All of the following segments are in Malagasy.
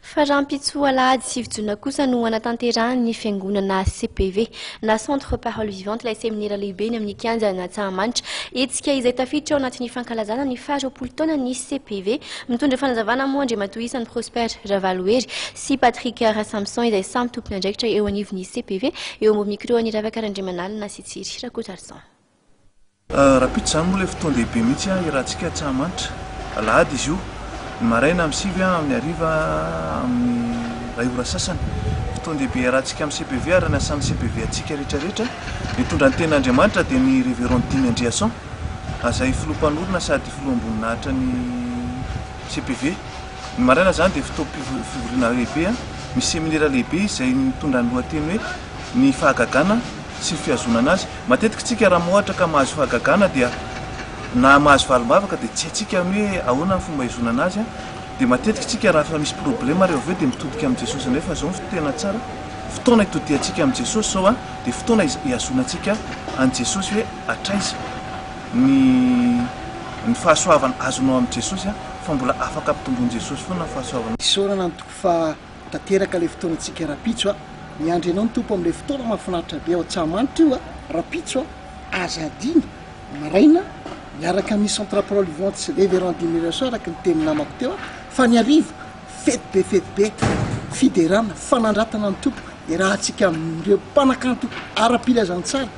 Fa rahampitso alahady sivy jona kosa no hanatanterahan'ny fiangonana CPV na Centre Parole Vivante ilay seminera lehibeny amin'ny kianja an'Antsahamanitra. Hetsika izay tafiditra ao anatin'ny fankalazana ny faha roapolo taonan'ny CPV. Mitondra fanazavana moa Andriamatoa Isany Prosper Ravalohery sy Patrick Rasamison izay samy tompon'andraikitra eo anivon'ny CPV eo ambony micro-an'i Ravaka Randriamanalina sy Tsiry Rakotarison. Rapito izany moa ilay fotoan-dehibe mihitsy hiarahantsika Antsahamanitra. Alahady izy io, ny maraina amin'ny sivy amin'ny hariva amin'ny iray ora sasany. Fotoan-dehibe hiarahantsika amin'ny CPV ary anasan'ny CPV antsika rehetra rehetra. Ny hitondra ny Tenin'Andriamanitra dia ny Révérend Dimy Andriason, azay Filoha Mpanorina sady Filoham-boninahitra ny CPV. Ny maraina izany dia fotoam-pivoriana lehibe, misy seminera lehibe izay mitondra ny lohateny hoe Ny Fahagagana sy ny Fihazonana azy. Matetika isika raha mohatra ka mahazo fahagagana dia na mahazo valim-bavaka dia tsy haitsika ny hoe ahoana ny fomba hihazonana azy an! dia matetika isika raha efa misy problema ary eo avy eo dia mitodika amin'i Jesosy indray fa izao no tena tsara fotoana hitodiantsika amin'i Jesosy izao an! dia fotoana hihazonantsika an'i Jesosy hoe hatraiza ny ny fahasoavana azonao amin'i Jesosy an! fa mbola afaka ampitombon'i Jesosy foana ny fahasoavana. Isaorana ny Tompo fa Tanteraka ilay fotoanantsika rapitso a! Miandry anao ny Tompo amin'ilay fotoana mahafinaritra be ao Antsahamanitra io a! Rapitso a! Aza adino! Maraina, miaraka amin'ny Centre Parole Vivante sy Révérend Dimy Rirasoa araka ny tenin'ny namako teo a! Fa ny hariva, fety be fety be, fiderana, fanandratana ny Tompo, iarahantsika amin'ireo mpanakanto ara-pilazana tsara,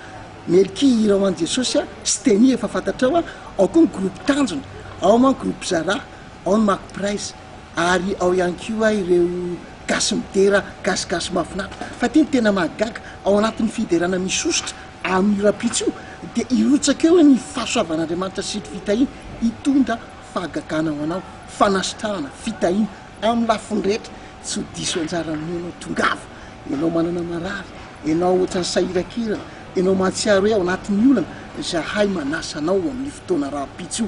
Melky hira ho an'i Jesosy a! Steny efa fantatrao a! Ao koa ny groupe Tanjona, ao man groupe Zara, ao ny Mac Praise. ary ao ihany koa ireo gasy midera gasigasy mahafinaritra fa ity no tena mahagaga ao anatin'ny fiderana misosotra amin'io rahampitso io dia hirotsaka eo ny fahasoavan'Andriamanitra sy ny fitahiana hitondra fahagagana ho anao fanasitrahana fitahiana amin'ny lafiny rehetra tsy ho diso anjara aminao ianao tongava ianao manana marary ianao ohatran'ny sahirakirana ianao mahatsiaro hoe ao anatin'ny olana izahay manasa anao amin'ny fotoana rahampitso